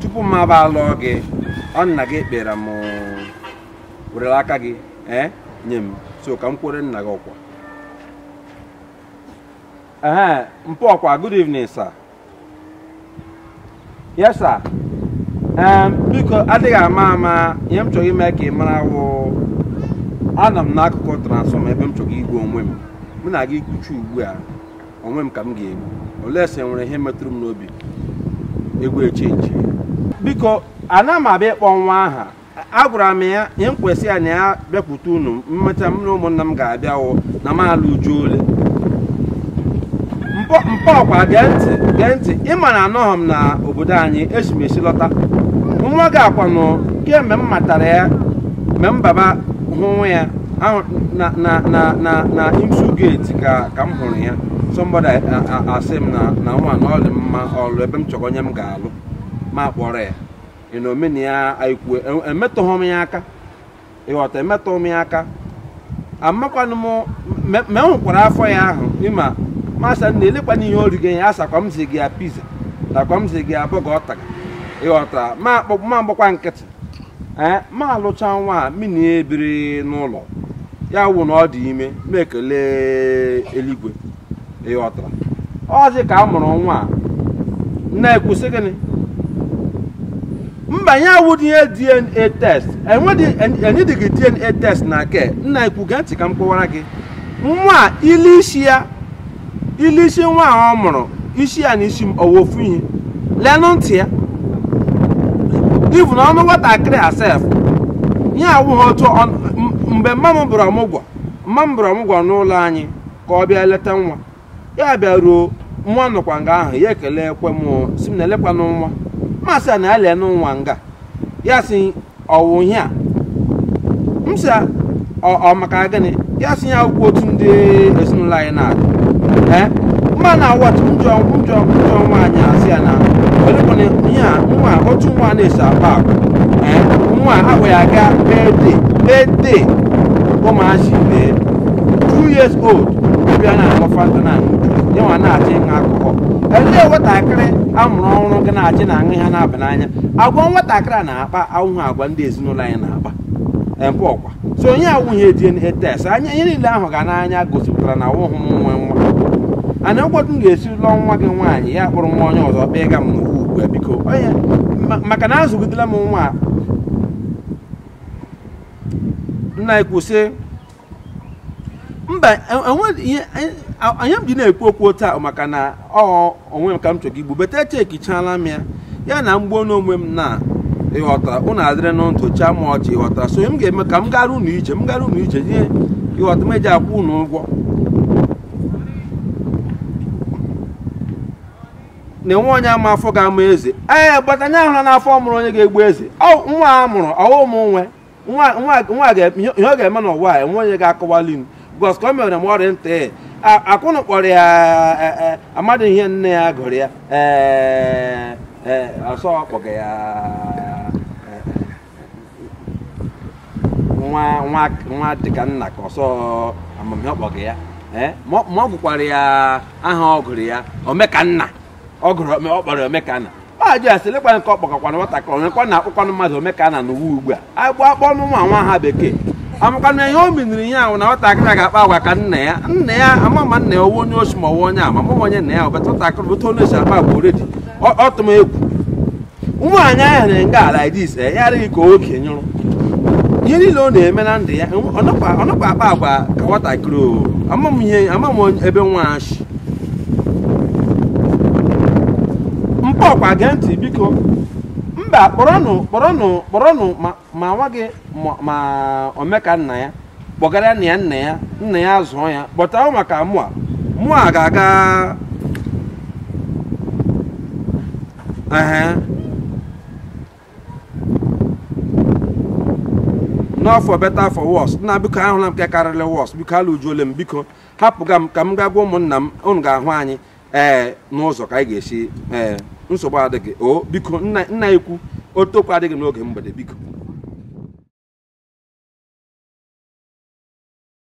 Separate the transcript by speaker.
Speaker 1: tupu m aba alụọ gị ọ nna gị kpọrọ m were aka gị ee nye m so ka m kwuru nna gị okwu ee mpa ọkwa good evening sir yes sir ee biko adịghị ama ama ihe m chọrọ ime ka ị mara wụ anọ m n'akụkụ transformer ebe m chọrọ igbu onwe m mụ na gị kwucha ugbu a onwe m ka m ga-egbu unless e nwere ihe metụrụ m n'obi egwu echenji biko ana m abịa ịkpọ nwa aha agwara m ya ihe m kwesị ya na ya bịakwute unu emecha m na ụmụnna m ga-abịa wụ na m alụjuole mpa mpa ọkwa gee ntị gee ntị ịma na anọghị m na obodo anyị esi m esi lọta nwa gị a kwanụ kemgbe m matara ya mgbe m baba hụwa ya na na na na na imsu gate ka ka m hụrụ ya somebody asị m na na nwa na ọ dị mma ọlụ ebe m chọrọ onye m ga-alụ ma kpọrọ ya na omena ya anyị kwuo emetụghị m ya aka ịghọta emetụghị m ya aka amakwanụ m ma enwekwara afọ ya ahụ ịma m asị na elekwanụ ihe ọ rige ya asịkwa m zụga ya pizza nakwa m zụga ya burger ọ taga ịghọtara ma akpọ ma agbakwa nkịtị ee ma alụcha nwa a mụ na ya ebiri n'ụlọ ya wụ na ọ dị ime ma ekele eluigwe ịghọtara ọzi ka a mụrụ nwa a na-ekwusị gịnị mba ya awụdị ihe dna test enwedị enwedịghị dna test na nke m na-ekwu gee ntị ka m kọwara gị nwa a ile isi ya ile isi nwa a ọ mụrụ isi ya na isi m ọ wụ ofu ihe lenụ ntị ya even ọnụ nwatakịrị a sef ihe awụghị otu mgbe mma m bịara ọmụgwọ mma m bịara ọmụgwọ n'ụlọ anyị ka ọ bịa leta nwa ya bịa ruo nwa nọkwa nga ahụ ya ekelekwa m sị m na oleekwanụ nwa m asị ya na ya lenụ nwa nga ya sị ọ wụ ihe a m sị ya, ọ ọ maka gịnị ya sị ihe a awụhụkwa otu ndị ezinụlọ anyị na-adị ee mma na awọt njọ njọ njọ nwaanyị a sị ya na olekwana ihe a nwa otu nwa na-esi akpa agwa ee nwa ahụ ya aga birthday birthday ụmụazị bee two years old bịa na-aṅụ fanta na aṅụ juice ya nwa na-achọ ịṅụ alcohol elee nwatakịrị a mụrụ ọhụrụ ga na-achọ ịṅụ ihe na-aba n'anya agwa nwatakịrị a na-akpa awụhụ agwa ndị ezinụlọ anyị na-akpa mpa ọkwa so ihe a awụghị DNA test anya ihe niile a hụga n'anya gosipụtara na awụhụ m nwe nwa and kedụ otu m ga-esi lụọ nwa gị nwaanyị ya kpụrụ nwa onye ọzọ kpụga m n'ụwa ugbu a biko onye ma- maka na azụgidela m nwa a. nna anyị kwụsị mba ihe m ji na-ekwu okwu taa maka na ọ onwe m ka m chọrọ igbu but echekichala m ya na m gbuo onwe m na ị ghọtara ụnụ adịrị na ntụcha ma ọchị ị ghọtara so m ga-eme ka m gara ụnụ ije m gara ụnụ ije ihe ị ghọta m eji akwụ ụnụ ụgwọ na enwe onye ama afọ ga-amụ eze ee gbata anya ahụla n'afọ mụrụ onye ga-egbu eze nwa a mụrụ ọ wụ m nwe nwa ihe ọ ga-eme n'ụwa a enwe onye ga-akọwali m because ka o mere m ọrịa ntị akwụnụ kpọrọ ya e, e, amadi ihe nne ya gụrụ ya ee e, ọ sị ọ kpọga ya nwa dịka nna ka ọ sị ama m ihe ọ kpọga ya ma ọ gụkwara ya aha ọ gụrụ ya omekanna ọ gụrụ ome- ọ kpọrọ omekanna m ajụ ya sị lekwana nke ọ kpọgakwana nwatakịrị onye ka na-akpọkwanụ mmadụ omekanna n'ụwa ugbu a agbụ akpọ ọnụ nwa nwa aha bekee amakwana ihe o miniri ya wụ na nwatakịrị a ga-akpa agwa ka nna ya nna ya ama m ma nna ya ọ wụ onye oshi ma ọ wụ onye ama m onye nna ya wụ but nwatakịrị otu onye si akpa agwa already ọ tụ m egwu nwaanyị ahụ na nga ala dis eh, ya adị ka oke nyụrụ ihe niile ọ na-eme na ndụ ya ọ nakwa akpa agwa ka nwatakịrị ama m ihe ama m ebe nwa shi mpa ọkwa gee ntị biko mba kpọrọnụ kpọrọnụ kpọrọnụ ma nwa gị ma omekanna ya kpọgara nna ya nna ya nna ya zụọ ya kpọta maka mụa mụa ga-aga nọ for better for worse nna biko ahụla m nke karịrị worse biko alụjuole m biko hapụga m ka m gaa gwa ụmụnna m unu ga-ahụ anyị ee n'ụzọ ka anyị ga-esi ee nsogbu adịghị o biko nna ikwu ọtụtụ okwu adịghị n'oge mgbede biko